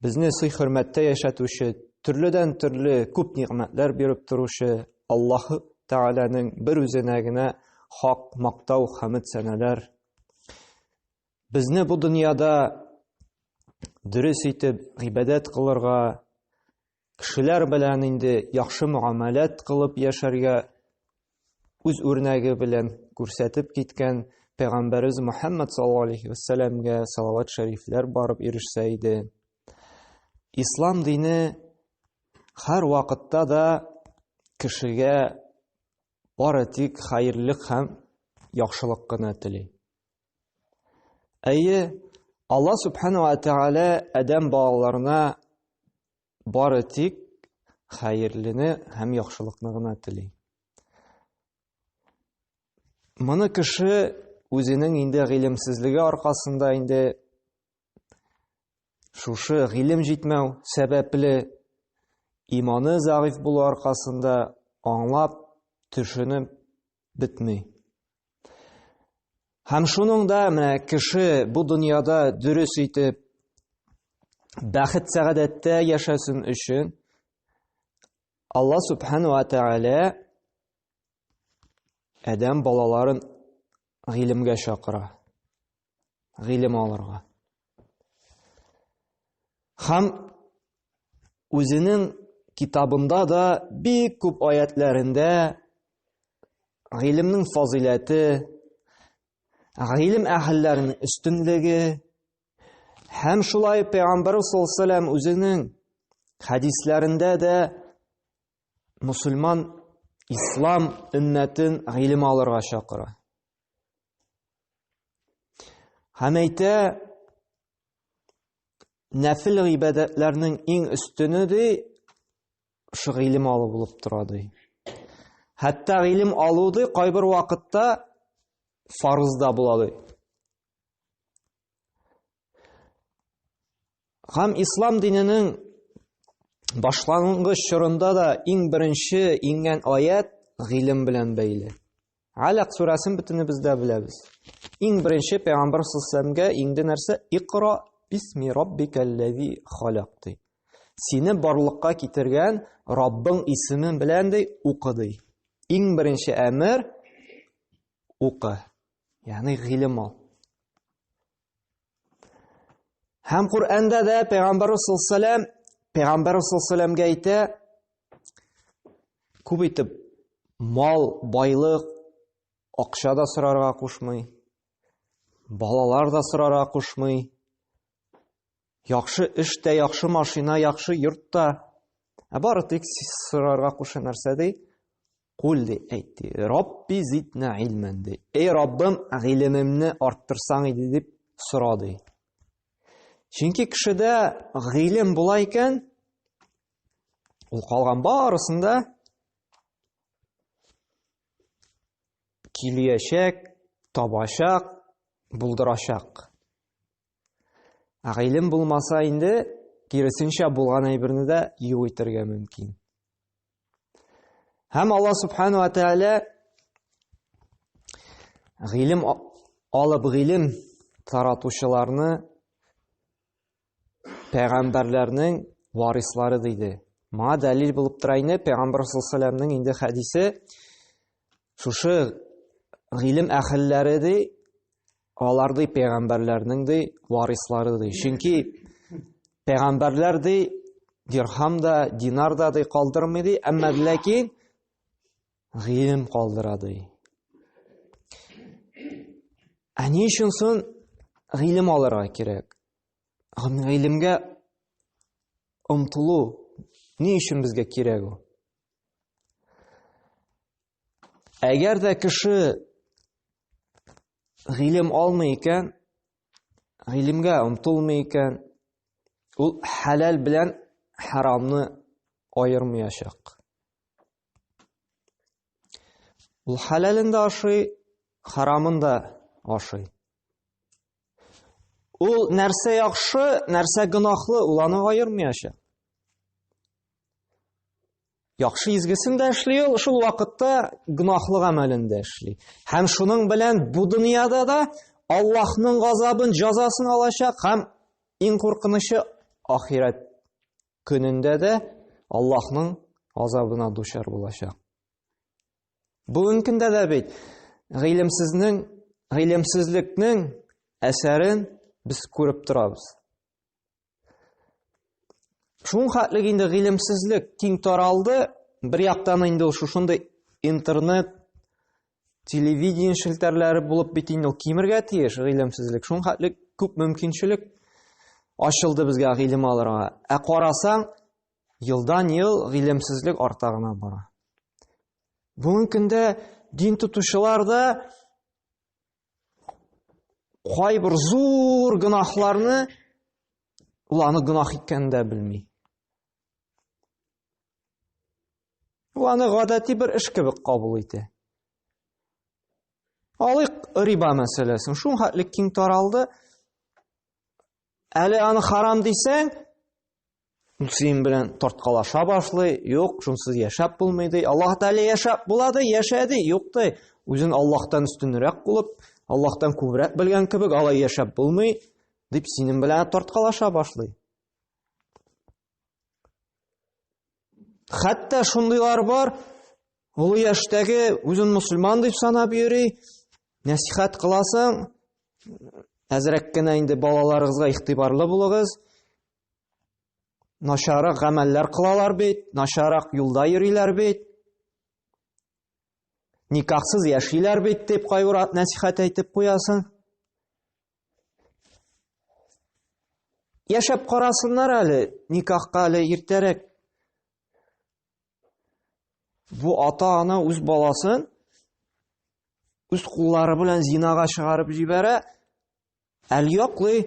Безне сый-хөрмәттә яшәтүче, төрледән-төрле күп нигъмәтләр биреп торучы Аллаһ Тәгаләнең бер үзенә генә хак мактау, хәмд сәнәләр. Безне бу дөньяда дөрес итеп гыйбадәт кылырга, Кешеләр белән инде яхшы мөгамәләт кылып яшәргә үз үрнәге белән күрсәтеп киткән Пәйгамбәрбез Мөхәммәд саллаллаһу алейхи ва сәлламгә салават шәрифләр барып ирешсә иде. Ислам дине һәр вакытта да кешегә бары тик хәерлек һәм яхшылык кына тели. Әйе, Алла субхана ва тәгалә Адәм балаларына Бары тик хәерлене һәм яхшылыкны гына тели. Моны кеше үзенең инде гыйлемсезлеге аркасында инде шушы гыйлем җитмәү сәбәпле иманы зәгыйф булу аркасында аңлап, төшенеп, бетми. Һәм шуның да менә кеше бу дөньяда дөрес итеп бәхет сәгадәттә яшәсен өчен Алла субхану ва тәгалә адәм балаларын гыйлемгә чакыра. гыйлем алырга. Хам үзенең китабында да бик күп аятләрендә гыйлемнең фазыйләте, гыйлем әһелләренең өстенлеге һәм шулай пәйгамбәр саллаллаху үзенең хәдисләрендә дә мусульман ислам өммәтен гыйлем алырга чакыра. Һәм әйтә, нәфил гыйбадәтләрнең иң өстене ди, шул гыйлем алу булып тора ди. Хәтта гыйлем алу ди, кайбер вакытта фарыз да була ди. Һәм ислам диненең башлангыч чорында да иң беренче иңгән аят гыйлем белән бәйле. Алак сүрәсен бөтенебез дә беләбез. Иң беренче пәйгамбәр сәлламгә инде нәрсә? Икра бисми раббикаллази халакты. Сине барлыкка китергән Раббың исеме белән дә укыды. Иң беренче әмер укы. Ягъни гыйлем ал. Һәм Коръәндә дә Пәйгамбәр Расулсалам, Пәйгамбәр Расулсаламга әйтә, күп итеп мал, байлык, акча да сорарга кушмый, балалар да сорарга кушмый, Яхшы эш тә, яхшы машина, яхшы йорт та. Ә бары тик сорарга куша нәрсә ди? Кул ди, әйт ди. Рабби зитна илмен ди. Эй Раббым, гыйлемемне арттырсаң иде дип сора ди. Чөнки кешедә гыйлем була икән, ул калган барысында киләчәк, табачак, булдырачак. Ә гыйлем булмаса инде, киресенчә булган әйберне дә юк итәргә мөмкин. Һәм Алла субхану ва тәгалә гыйлем алып гыйлем таратучыларны пәйгамбәрләрнең варислары диде. Моңа дәлил булып тора инде пәйгамбәр саллаллаху инде хәдисе Шушы гыйлем әхелләре ди, алар ди пәйгамбәрләрнең ди варислары ди. Чөнки пәйгамбәрләр ди дирхам да, динар да ди калдырмый ди, әмма ләкин гыйлем калдыра ди. Ә ни өчен сон гыйлем алырга кирәк? Гыйлемгә омтылу ни өчен безгә кирәк ул? Әгәр дә кеше гыйлем алмый икән, гыйлемгә омтылмый икән, ул хәләл белән харамны аермыячак. Ул хәләлен дә ашый, харамын да ашый. Ул нәрсә яхшы, нәрсә гынахлы, ул аны айырмыяча. Яхшы изгесен дә эшли ул, шул вакытта гынахлы гамәлен дә эшли. Һәм шуның белән бу дөньяда да Аллаһның газабын, җазасын алачак һәм иң куркынычы ахирәт көнендә дә Аллаһның азабына дучар булачак. Бүгенге көндә дә бит гыйлемсезнең, гыйлемсезлекнең әсәрен без күреп торабыз. Шуң хәтлек инде гыйлемсезлек киң таралды, бер яктан инде шушындый интернет, телевидение челтәрләре булып бит инде ул кимергә тиеш гыйлемсезлек. Шуң хәтлек күп мөмкинчелек ачылды безгә гыйлем алырга. Ә карасаң, Елдан-ел гыйлемсезлек арта гына бара. Бүгенге көндә дин тотучылар да кайбер зур гынахларны ул аны гынах икәнен дә белми. Ул аны гадәти бер эш кебек кабул итә. Алыйк риба мәсьәләсен. Шул хәтле киң таралды. Әле аны харам дисәң, син белән тарткалаша башлый, юк, шунсыз яшәп булмый ди. Аллаһ Тәгалә яшәп була ди, яшә ди, юк ди. Үзен Аллаһтан өстенрәк булып, Аллаһтан күбрәк белгән кебек алай яшәп булмый, дип синең белән тарткалаша башлый. Хәтта шундыйлар бар, олы яшьтәге үзен мусульман дип санап йөри, нәсихәт кыласың, әзрәк кенә инде балаларыгызга игътибарлы булыгыз. Начарак гамәлләр кылалар бит, начарак юлда йөриләр бит. Никахсыз яшиләр бит дип кайгырат нәсихәт әйтеп куясың. Яшәп карасыннар әле, никахка әле иртәрәк. Бу ата-ана үз баласын үз куллары белән зинага чыгарып җибәрә. Әл яклый,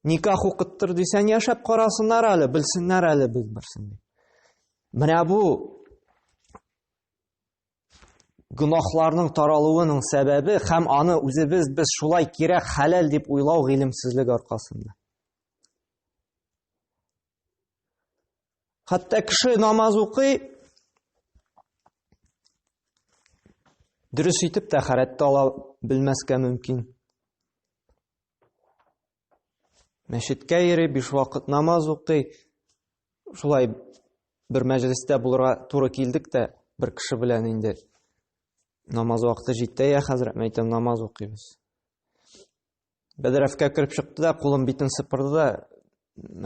никах укыттыр дисәң, яшәп карасыннар әле, белсеннәр әле без берсен. Менә бу Гөнаһларның таралуының сәбәбе һәм аны үзебез без шулай кирәк хәләл дип уйлау гыйлемсезлек аркасында. Хәтта кеше намаз укый, дөрес итеп тәхәрәт ала белмәскә мөмкин. Мәчеткә йөри, биш вакыт намаз укый. Шулай бер мәҗлестә булырга туры килдек тә бер кеше белән инде. Намаз вакыты җитте, я хәзрәт, мин әйтәм, намаз укыйбыз. Бәдрәфкә кереп чыкты да, кулын битен сыпырды да,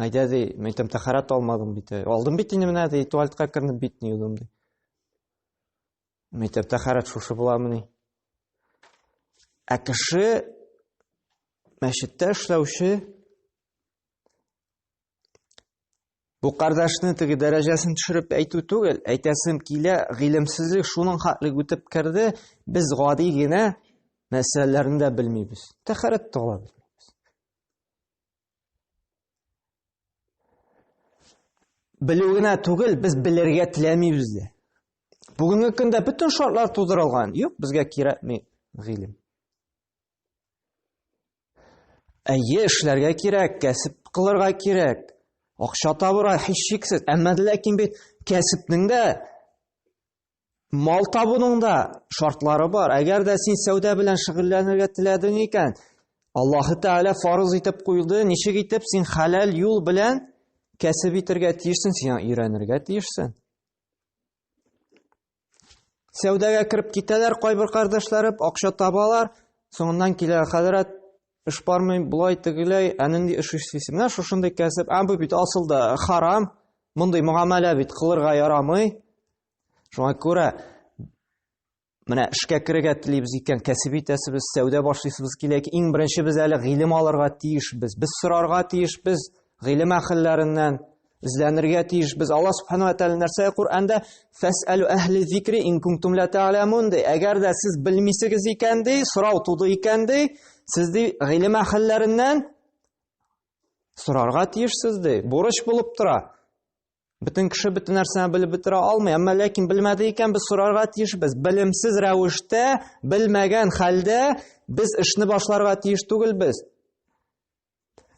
әйдә ди, мин әйтәм, тәхәрәт алмадым бит. Алдым бит инде менә ди, туалетка кернеп битне юдым ди. Мәктәптә хәрәт шушы буламыни? Ә кеше мәчеттә эшләүче бу кардәшне теге дәрәҗәсен төшереп әйтү түгел, әйтәсем килә, гыйлемсезлек шуның хатлык үтеп керде, без гади генә мәсьәләләрне дә белмибез. Тәхәрәт тә ала белмибез. Белү генә түгел, без белергә теләмибез дә. Бүгенге көндә бөтен шартлар тудырылган. Юк, безгә кирәкми гыйлем. Әйе, эшләргә кирәк, кәсеп кылырга кирәк. Акча табырга һичшиксез. Әмма ләкин бит кәсепнең дә Мал табуның да шартлары бар. Әгәр дә син сәүдә белән шөгыльләнергә теләдең икән, Аллаһы Тәгалә фарыз итеп куйды, ничек итеп син хәләл юл белән кәсеп итергә тиешсең, сиңа өйрәнергә тиешсең. Сәүдәгә кереп китәләр кайбер кардәшләре, акча табалар, соңыннан килә хәзрәт эш бармый, болай тегеләй, ә нинди эш эшлисең? Менә шушындый кәсеп, ә бу бит асылда харам, мондый мөгамәлә бит кылырга ярамый. Шуңа күрә менә эшкә керергә телибез икән, кәсеп итәсебез, сәүдә башлыйсыбыз килә икән, иң беренче без әле гыйлем алырга тиешбез. Без сорарга тиешбез гыйлем әһелләреннән, эзләнергә тиешбез. Алла Субхану ва Тәгалә нәрсә Коръәндә фәсәлу әһли зикри ин кунтум ла та'ламун ди. Әгәр дә сез белмисегез икән ди, сорау туды икән ди, сез ди гыйлем әһелләреннән сорарга тиешсез ди. Бурыч булып тора. Бөтен кеше бөтен нәрсәне белеп бетерә алмый, әмма ләкин белмәде икән без сорарга тиешбез. Белемсез рәвештә, белмәгән хәлдә без эшне башларга тиеш түгелбез.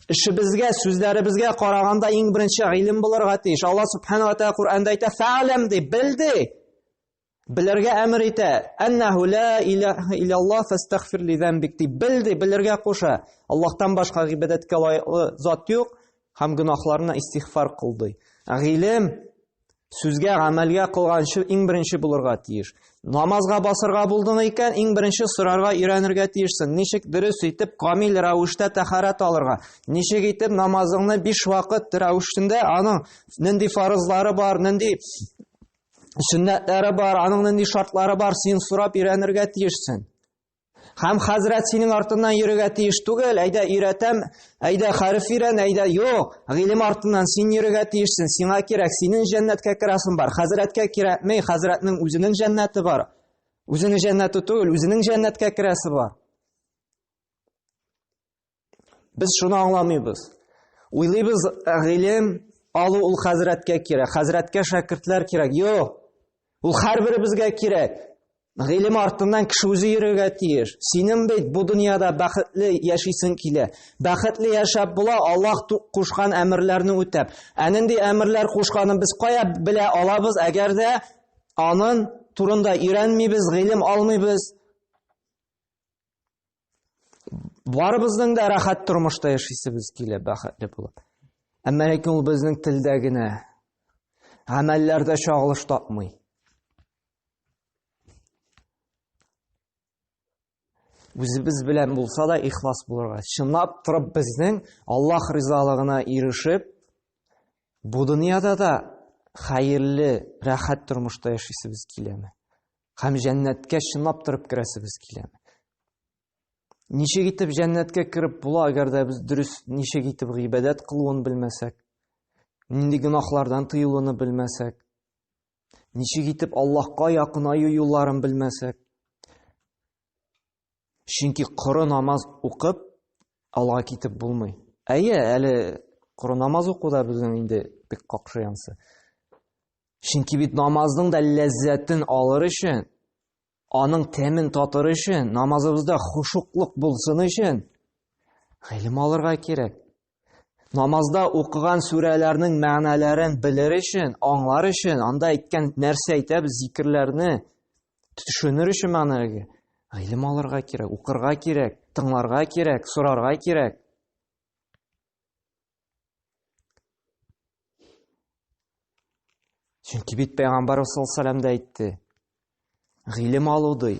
Эшебезгә, сүзләребезгә караганда иң беренче гыйлем булырга тиеш. Алла субхана ва тәгалә Коръәндә әйтә: "Фә'ләм" дип, бел ди. Белергә әмер итә. Әннәһу ла илаһа иллаллаһ фастагфир ли замбик дип белде, белергә куша. Аллаһтан башка гыйбадәткә лаеклы зат юк һәм гөнаһларына истигъфар кыл ди. Гыйлем сүзгә, гамәлгә кылганчы иң беренче булырга тиеш. Намазга басырга булдың икән, иң беренче сорарга өйрәнергә тиешсең. Ничек дөрес итеп камил рәвештә тәхарәт алырга? Ничек итеп намазыңны биш вакыт рәвешендә аның нинди фарызлары бар, нинди Сөннәтләре бар, аның нинди шартлары бар, син сорап өйрәнергә тиешсең. Хәм хәзрәт синең артыннан йөрергә тиеш түгел, әйдә өйрәтәм, әйдә хәреф өйрән, әйдә юк, гыйлем артыннан син йөрергә тиешсең, сиңа кирәк, синең җәннәткә керәсең бар, хәзрәткә кирәкмей, хәзрәтнең үзенең җәннәте бар. Үзенең җәннәте түгел, үзенең җәннәткә керәсе бар. Без шуны аңламыйбыз. Уйлыйбыз, гыйлем алу ул хәзрәткә кирәк, хәзрәткә шәкертләр кирәк. Юк. Ул һәрберебезгә кирәк. Гыйлем артыннан кеше үзе йөрергә тиеш. Синең бит бу дөньяда бәхетле яшисең килә. Бәхетле яшәп була, Аллаһ кушкан әмерләрне үтәп. Ә нинди әмерләр кушканын без кая белә алабыз, әгәр дә анын турында өйрәнмибез, гыйлем алмыйбыз? Барыбызның да рәхәт тормышта яшисебез килә, бәхетле булып. Әмма ләкин ул безнең телдә генә, гамәлләрдә чагылыш тапмый. Үзебез белән булса да ихлас булырга. Чынлап торып безнең Аллаһ ризалыгына ирешеп, бу дөньяда да хәерле, рәхәт тормышта яшисебез киләме? Һәм җәннәткә чынлап торып керәсебез киләме? Ничек итеп җәннәткә кереп була, әгәр дә без дөрес ничек итеп гыйбадәт кылуын белмәсәк, нинди гөнаһлардан тыелуны белмәсәк, ничек итеп Аллаһка якынаю юлларын белмәсәк, Чөнки коры намаз укып, алга китеп булмый. Әйе, әле коры намаз уку да безнең инде бик какшы янсы. Чөнки бит намазның да ләззәтен алыр өчен, аның тәмен татыр өчен, намазыбызда хушуклык булсын өчен гыйлем алырга кирәк. Намазда укыган сүрәләрнең мәгънәләрен белер өчен, аңлар өчен, анда әйткән нәрсә әйтәбез, зикерләрне төшенер өчен мәгънәләргә гыйлем алырга кирәк, укырга кирәк, тыңларга кирәк, сорарга кирәк. Чөнки бит пәйгамбарыбыз саллаллаху алейһи әйтте. Гыйлем алу ди,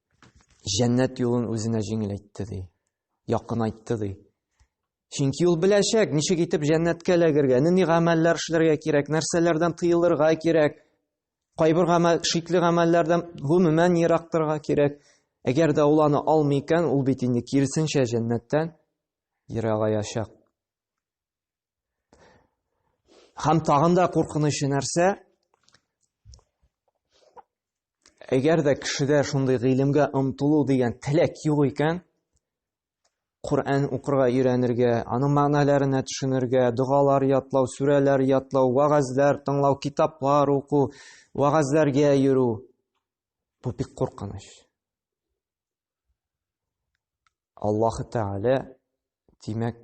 Җәннәт юлын үзенә җиңеләйтте ди. Якынайтты ди. Чөнки ул беләчәк, ничек итеп җәннәткә эләгергә, нинди гамәлләр эшләргә кирәк, нәрсәләрдән тыелырга кирәк. Кайбер гамәл, шикле гамәлләрдән гомумән ерак торырга кирәк. Әгәр дә ул аны алмый икән, ул бит инде киресенчә җәннәттән ерагаячак. Һәм тагын да куркынычы нәрсә? Әгәр дә кешедә шундый гыйлемгә омтылу дигән теләк юк икән, Коръән укырга өйрәнергә, аның мәгънәләренә төшенергә, догалар ятлау, сүрәләр ятлау, вагазлар тыңлау, китаплар уку, вагазларга йөрү. Бу бик куркыныч. Аллаһ Тәгалә, димәк,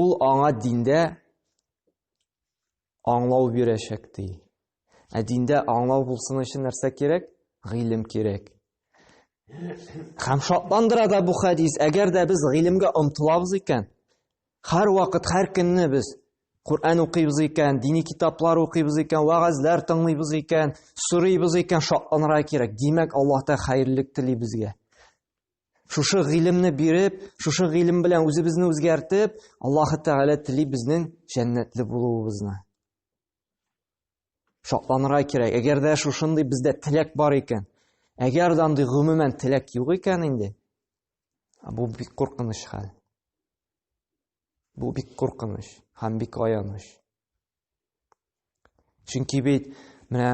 Ул аңа диндә аңлау бирәчәк ди. Ә диндә аңлау булсын өчен нәрсә кирәк? Гыйлем кирәк. Хәм шатландыра да бу хәдис, әгәр дә без гыйлемгә омтылабыз икән, һәр вакыт, һәр көнне без Коръән укыйбыз икән, дини китаплар укыйбыз икән, вагазлар тыңлыйбыз икән, сорыйбыз икән, шатланырга кирәк. Димәк, Аллаһ та хәерлек тели безгә. Шушы гыйлемне биреп, шушы гыйлем белән үзебезне үзгәртеп, Аллаһ Тәгалә тели безнең җәннәтле булуыбызны. Шатланырга кирәк. Әгәр дә шушындый бездә теләк бар икән, әгәр дә андый гомумән теләк юк икән инде, бу бик куркыныч хәл. Бу бик куркыныч һәм бик аяныч. Чөнки бит менә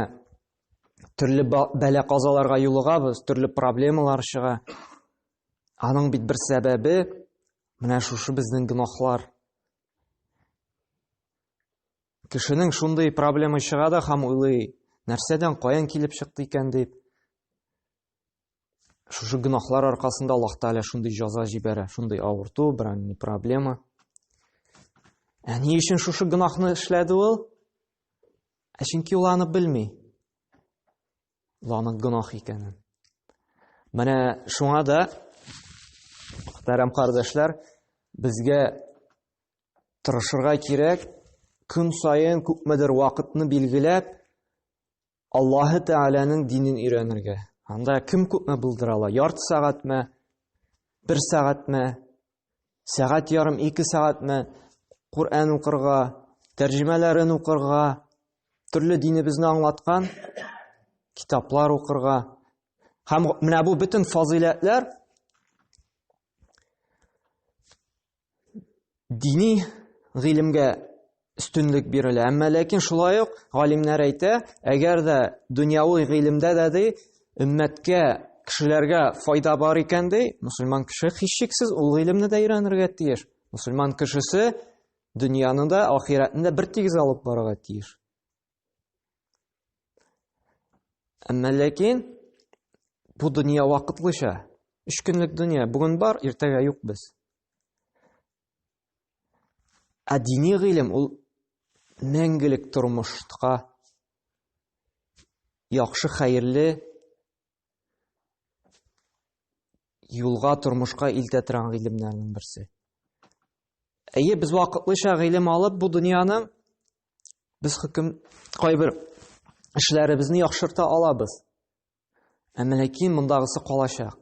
төрле бәлә казаларга юлыгабыз, төрле проблемалар чыга. Аның бит бер сәбәбе менә шушы безнең гөнаһлар. Кешенең шундый проблема чыга да һәм уйлый, нәрсәдән каян килеп чыкты икән дип. шушы гөнаһлар аркасында Аллаһ Тәгалә шундый җаза җибәрә, шундый авырту, берәр ни проблема. Ә ни өчен шушы гөнаһны эшләде ул? Ә чөнки ул аны белми. Ул аның гөнаһ икәнен. Менә шуңа да Мөхтәрәм кардәшләр, безгә тырышырга кирәк, көн сайын күпмедер вакытны билгеләп, Аллаһы Тәгаләнең динен өйрәнергә. Анда кем күпме булдыра ала? Ярты сәгатьме? Бер сәгатьме? Сәгать ярым, ике сәгатьме? Коръән укырга, тәрҗемәләрен укырга, төрле динебезне аңлаткан китаплар укырга. Һәм менә бу бөтен фазыйләтләр дини гыйлемгә өстенлек бирелә. Әмма ләкин шулай ук галимнәр әйтә, әгәр дә дөньяви гыйлемдә дә ди, өммәткә, кешеләргә файда бар икән ди, мусульман кеше һичшиксез ул гыйлемне дә өйрәнергә тиеш. Мусульман кешесе дөньяны да, ахирәтне дә бер тигез алып барырга тиеш. Әмма ләкин бу дөнья вакытлыча. Өч көнлек дөнья. Бүген бар, иртәгә юк без. Ә дини гыйлем ул мәңгелек тормышка яхшы хәерле юлга тормышка илтә торган гыйлемнәрнең берсе. Әйе, без вакытлыча гыйлем алып, бу дөньяның Без хөкем кайбер эшләребезне яхшырта алабыз. Ә ләкин мондагысы калачак.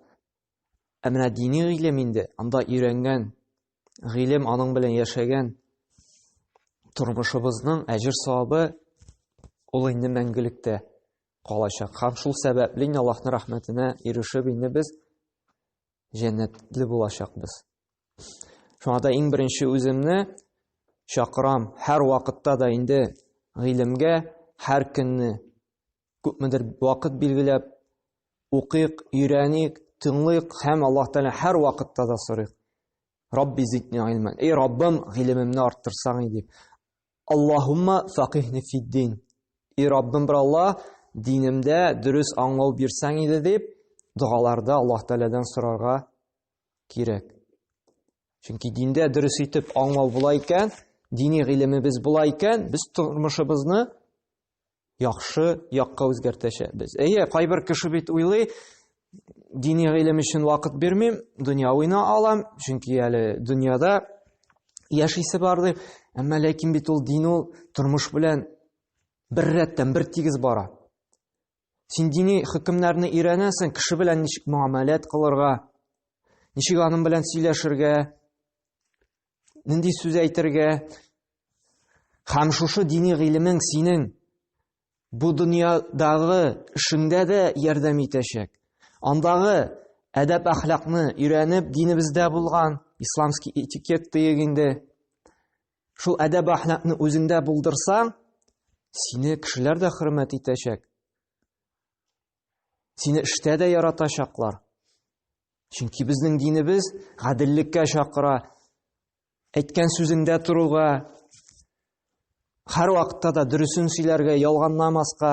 Ә менә дини гыйлем инде, анда өйрәнгән гыйлем, аның белән яшәгән тормышыбызның әҗер савабы ул инде мәңгелектә калачак. Һәм шул сәбәпле Аллаһның рәхмәтенә ирешеп инде без җәннәтле булачакбыз. Шуңа да иң беренче үземне чакырам, һәр вакытта да инде гыйлемгә һәр көнне күпмедер вакыт билгеләп укыйк, өйрәник, тыңлыйк һәм Аллаһ Тәгалә һәр вакытта да сорыйк. Рабби зидни гыйлмен. Эй Раббым, гыйлемемне арттырсаң дип. Аллаһумма факихни фиддин. Эй Раббым, бер Аллаһ, динемдә дөрес аңлау бирсәң иде дип, догаларда Аллаһ Тәгаләдән сорарга кирәк. Чөнки диндә дөрес итеп аңлау була икән, дини гыйлемебез була икән, без тормышыбызны яхшы якка үзгәртәчәкбез. Әйе, кайбер кеше бит уйлый, дини гыйлем өчен вакыт бирмим, дөнья уйна алам, чөнки әле дөньяда яшисе бар дип, әмма ләкин бит ул дин ул тормыш белән бер рәттән бер тигез бара. Син дини хөкемнәрне өйрәнәсең, кеше белән ничек муамәләт кылырга, ничек аның белән сөйләшергә, нинди сүз әйтергә. Һәм шушы дини гыйлемең синең бу дөньядагы эшеңдә дә ярдәм итәчәк. Андагы әдәп әхлакны өйрәнеп, динебездә булган исламский этикет диек инде. Шул әдәб әхлакны үзеңдә булдырсаң, сине кешеләр дә хөрмәт итәчәк. Сине эштә дә яратачаклар. Чөнки безнең динебез гаделлеккә чакыра. Әйткән сүзеңдә торуга, һәр вакытта да дөресен сөйләргә, ялганламаска,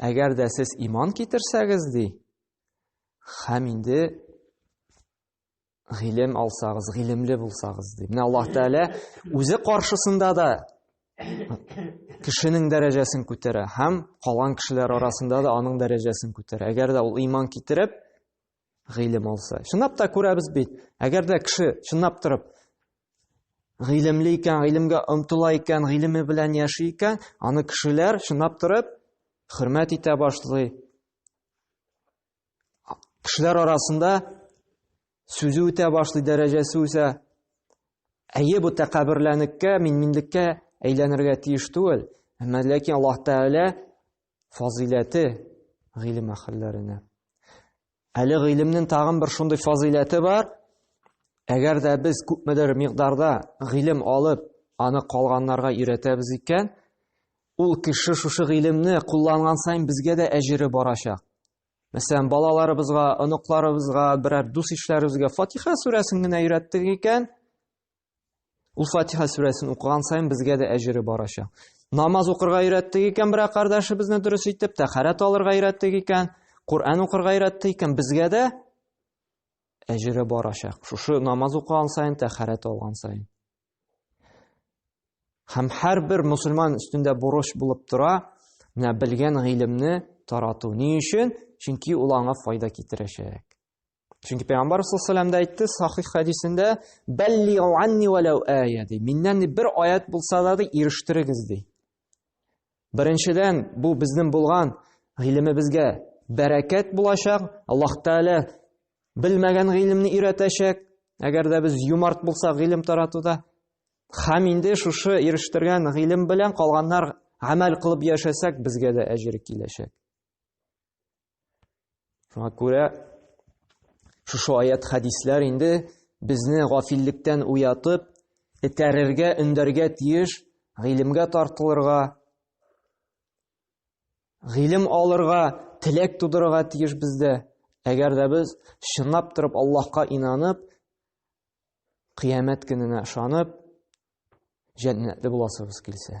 Әгәр дә сез иман китерсәгез, ди, хәм инде гыйлем алсагыз, гыйлемле булсагыз, ди. Менә Аллаһ Тәгалә үзе каршысында да кешенең дәрәҗәсен күтәрә һәм калган кешеләр арасында да аның дәрәҗәсен күтәрә. Әгәр дә ул иман китереп, гыйлем алса. Чынлап та күрәбез бит, әгәр дә кеше чынлап торып гыйлемле икән, гыйлемгә омтыла икән, гыйлеме белән яши икән, аны кешеләр чынлап торып хөрмәт итә башлый. Кешеләр арасында сүзе үтә башлый, дәрәҗәсе үсә. Әйе, бу тәкәбберләнеккә, минминлеккә әйләнергә тиеш түгел. Әмма ләкин Аллаһ Тәгалә фазыйләте гыйлем әһелләренә. Әле гыйлемнең тагын бер шундый фазыйләте бар. Әгәр дә без күпмедер мигъдарда гыйлем алып, аны калганнарга өйрәтәбез икән, ул кеше шушы гыйлемне кулланган саен безгә дә әҗере барачак. Мәсәлән, балаларыбызга, оныкларыбызга, берәр дус-ишләребезгә Фатиха сүрәсен генә өйрәттек икән, Ул Фатиха сүрәсен укыган саен безгә дә әҗере барачак. Намаз укырга өйрәттек икән бер кардәшебезне дөрес итеп, тәхәрәт алырга өйрәттек икән, Коръән укырга өйрәттек икән, безгә дә әҗере барачак. Шушы намаз укыган саен, тәхәрәт алган саен. Һәм һәрбер мусульман өстендә бурыч булып тора, менә белгән гыйлемне тарату. Ни өчен? Чөнки ул аңа файда китерәчәк. Чөнки пәйгамбар саллаллаху алейһи әйтте сахих хәдисендә баллигу анни валау ая ди. Миннән бер аят булса да ди ирештерегез ди. Беренчедән бу безнең булган гыйлемебезгә бәрәкәт булачак. Аллаһ Тәгалә белмәгән гыйлемне өйрәтәчәк. Әгәр дә без юмарт булсак гыйлем таратуда, хәм инде шушы ирештергән гыйлем белән калганнар гамәл кылып яшәсәк, безгә дә әҗер киләчәк. Шуңа күрә шушы аят хәдисләр инде безне гафиллектән уятып, этәрергә, өндәргә тиеш, гыйлемгә тартылырга, гыйлем алырга, теләк тудырырга тиеш бездә. Әгәр дә без чынлап торып Аллаһка инанып, кыямәт көненә ышанып, җәннәтле буласыбыз килсә.